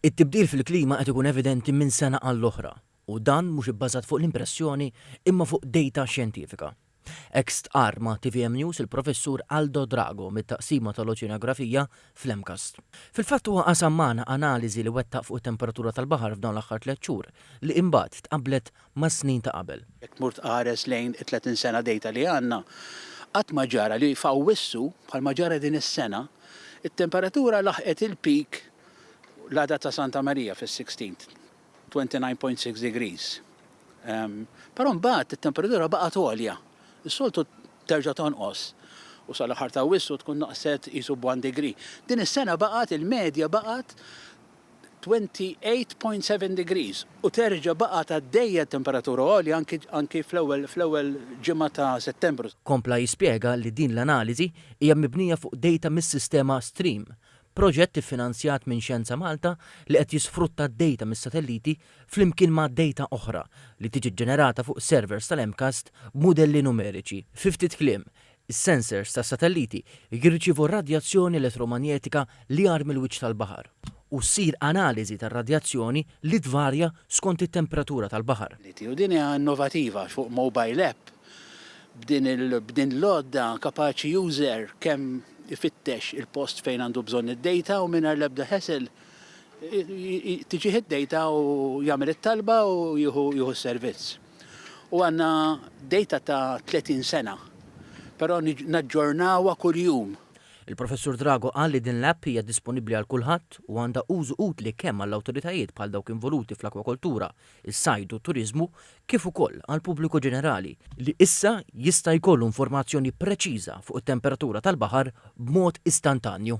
It-tibdil fil-klima qed ikun evidenti minn sena għall-oħra, u dan mhux ibbażat fuq l-impressjoni imma fuq dejta xjentifika. Hekk stqarr ma' tvm News il-Professur Aldo Drago mit-Taqsima tal-Oċeanografija fl-MCAST. Fil-fatt huwa qasam magħna analiżi li wettaq fuq it-temperatura tal-baħar f'dawn l-aħħar tliet xhur, li imbagħad tqabblet mas-snin ta' qabel. Jekk tmur tqares lejn it-30 sena dejta li għandna, qatt ma ġara li f'Awwissu, bħalma ġara din is-sena, it-temperatura laħqet il-peak l-għada ta' Santa Marija fis-Sixteenth, 29.6 degrees. Però mbagħad it-temperatura baqgħet għolja. Is-soltu terġa' tonqos u sal-aħħar ta' Awwissu tkun naqset qisu b'one degree. Din is-sena baqgħet il-medja baqgħet 28.7 degrees u terġa' baqgħet għaddejja t-temperatura għolja anki anki fl-ewwel fl-ewwel ġimgħa ta' Settembru. Kompla jispjega li din l-analiżi hija mibnija fuq dejta mis-sistema Stream, proġett iffinanzjat minn Xjenza Malta li qed jisfrutta d-dejta mis-satelliti flimkien ma' dejta oħra li tiġi ġġenerata fuq servers tal-MCAST b'mudelli numeriċi. Fi ftit kliem, Is-sensors tas-satelliti jirċievu r-radjazzjoni elettromanjetika li agħar mill-wiċċ tal-baħar, u ssir analiżi tar-radjazzjoni li tvarja skont it-temperatura tal-baħar. U din hija innovativa għax fuq mobile app b'din l-għodda kapaċi user kemm ifittex il-post fejn għandu bżonn id-data u mingħajr l-ebda hassle tiġih id-data u jagħmel it-talba u jieħu s-servizz. u għandna dejta ta' 30 sena, però naġġornawha kuljum. Il-Professur Drago qal li din l-app hija disponibbli għal kulħadd u għandha użu utli kemm għall-awtoritajiet bħal dawk involuti fl-akwakoltura, is-sajd u t-turiżmu kif ukoll għall-pubbliku ġenerali, li issa jista' jkollu informazzjoni preċiża fuq it-temperatura tal-baħar b'mod istantanju.